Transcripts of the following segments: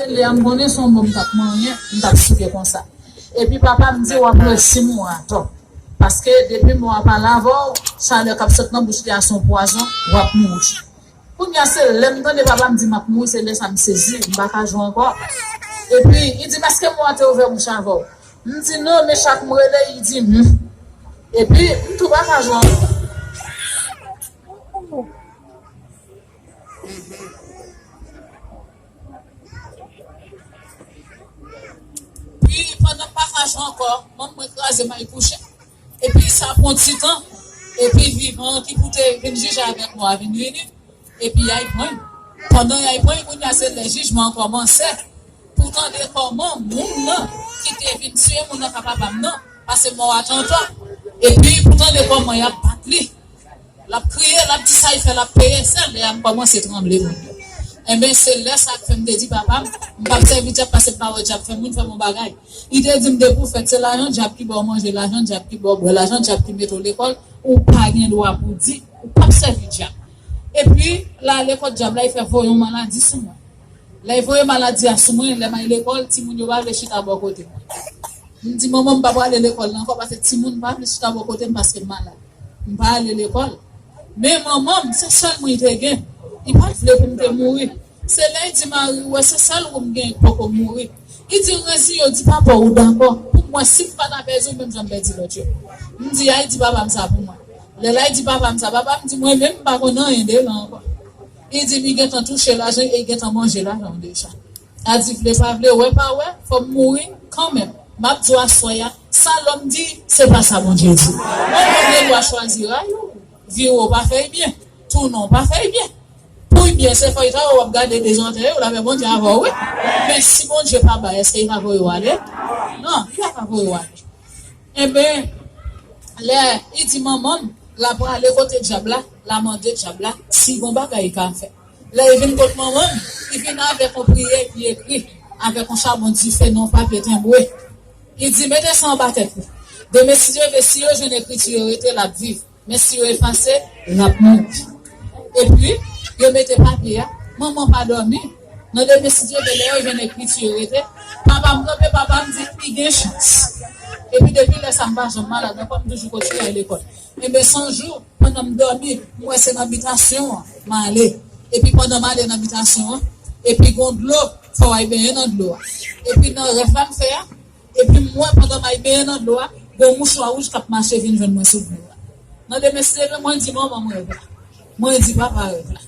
Se lè a m konnen son bon m tap manyen m tap souke konsa. Epi papa m di wap resi m wa atò. Paske depi m wa pale avè w, chalè kap sot nan bouch li a son pwazon, wap mouri. Kounya se lè m tande papa m di map mouri se lè sa m sezi, m paka jwe ankò. Epi li di m eske m wa te ouvè bouch avè w? M di non men chak m rele li di humm. Epi m tou paka jwe ankò. Pi pandan pasaj lan ankò, manm mwen kraze m al kouche. Epi sa pran ti tan, epi vivan an ki pou te vin jije avèk mò a vin vini, epi y al pran l. Pandan y al pran l, kounye a se lè jijman an kòmanse pou tande kòman moun nan ki te vin tiye moun nan ka papa m nan, pase mò a tantan, epi pou tande kòman y ap bat li. Lap kriye lap di sa li fè lap peye sèl lè a m kòmanse tranble moun yo enben se lè sa k fè m te di papa m m pap sèvi dyab pase m pa wè dyab fè moun fè m on bagay li te di m depi w fèt se lajan dyab ki ba w manje lajan dyab ki ba w bwè lajan dyab ki mete w lekòl ou pa gen dwa pou w di ou pap sèvi dyab epi l ale kot dyab la li fè voye on maladi sou mwen. Lè y voye maladi a sou mwen, lè m al lekòl, timoun yo pa vle chita bò kote mwen. M di manman m pa prale lekòl nan ankò pase timoun pa vle chita bò kote m paske m malad. M pa ale lekòl. Men manman m, se sèl mwen y te gen. Li pa t vle pou m te mouri. Se lè y di mari, wè se sèl wou m gen k poko mouri. Li di l reziye w, di papa w ou dakò pou m wè si m pa ta pèdi w menm jan m pèdi lòt yo. M di a y di papa m sa pou mwen. Lè l a y di papa m sa, papa m di mwen menm m pa konn anyen de l ankò. Li di m li gentan touche lajan e li gentan manje lajan m deja. Adi vle pa vle, wè pa wè, fò m mouri kanmenm. M ap di w aswè a, sa lòm di, se pa sa Bondye di. Mwen menm gen dwa chwazi ray ou. Vire w pa fè y byen, tounen w pa fè y byen. Pou y byen, se fèytay ou w ap gade dezòtèye w la fè Bondye avè w wi. Men, si Bondye pa bay, èske li ka voye w ale? Non, li pa ka voye w ale. Enben, lè li di manman m l a prale kote Dyab la, l a mande Dyab la si gon bagay li ka fè. Lè li vin kot manman m, li vin avèk yon priye li ekri avèk yon chabon dife nan yon papye tenbre. Li di, Mete sa anba tèt li. Demen si Dye vle, si yo jwenn ekriti yo rete, l ap viv. Men si yo efase, lap mouri. Epi, yo mete papye a. Manman pa dòmi. Nan demen Sidyebe, lè yo jwenn ekriti yo rete, Papa m kanpe, papa m di, li gen chans. Epi depi lè sa m pa janm malad ankò, m toujou kontinye al lekòl. Enben son jou, pandan m dòmi, m wè se nan bitasyon an m ale. Epi pandan m ale nan bitasyon an, epi gon dlo, fò w al benyen nan dlo a. Epi nan rèv la m fè a, Epi m wè pandan may benyen nan dlo a, gen yon mouchwa wouj k ap mache vin jwenn mwen sou dlo a. Nan demen si leve, mwen di manman m rèv la. Mwen di papa rèv la.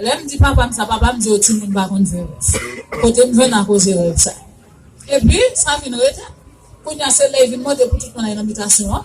Lè m di papa m sa, papa m di yo timoun pa konn fè rèv. Kote m jwenn akoze rèv sa. Epi, sa vin rete. Kounye a se lè y vin mande pou tout moun ale nan bitasyon an.